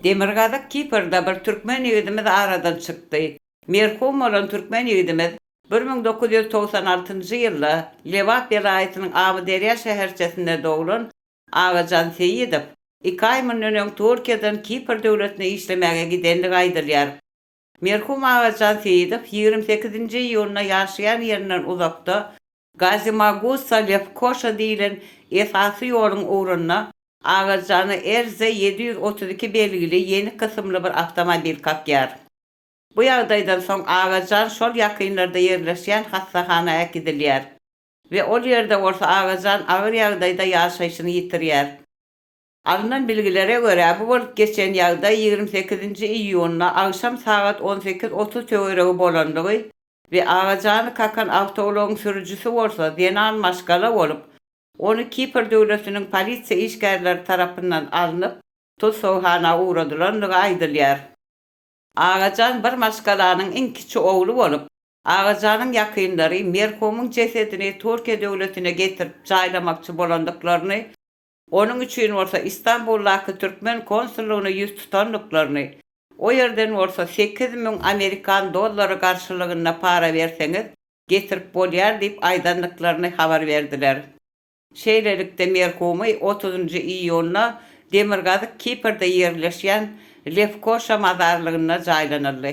Demirgazyk Kiprde bir türkmen ýigidimiz aradan çykdy. Merhum bolan türkmen ýigidimiz bir müň dokuz ýüz togsan altynjy ýylda Lebap welaýatynyň Amyderýa şäherçesinde doglan Agajan Seýidow iki aý mundan öň Türkiýeden Kipr döwletine işlemäge gidenligi aýdylýar. Merhum Agajan Seýidow ýigrimi sekizinji iýunda ýaşaýan ýerinden uzakda Gazimagussa, Lefkoşa diýilen esasy ýoluň ugrunda Agajany RZ ýedi ýüz otuz iki belgili ýenik kysymly bir awtomobil kakýar. Bu ýagdaýdan soň Agajan şol ýakynlarda ýerleşýän hassahana äkidilýär we ol ýerde bolsa Agajan agyr ýagdaýda ýaşaýşyny ýitirýär. Alnan bilgilere görä, bu bolup geçen ýagdaý ýigrimi sekizinji iýunda agşam sagat on sekiz otuz töweregi bolandygy we agajany kakan awtoulagyň sürüjisi bolsa zenan maşgala bolup, ony Kipr döwletiniň polisiýa işgärleri tarapyndan alnyp, tussaghana ugradylandygy aýdylýar. Agajan bir maşgalanyň iň kiçi ogly bolup, Agajanyň ýakynlary merhumyň jesedini Türkiýe döwletine getirip jaýlamakçy bolandyklaryny, Onuň üçin bolsa Istanbuldaky türkmen konsullygyna ýüz tutandyklaryny, o ýerden bolsa sekiz müň amerikan dollary garşylygynda para berseňiz, getirip bolýar diýip aýdandyklaryny habar berdiler. Şeýlelikde merhumy otuzynjy iýunda Demirgazyk Kiprde ýerleşýän Lefkoşa mazarlygynda jaýlanyldy.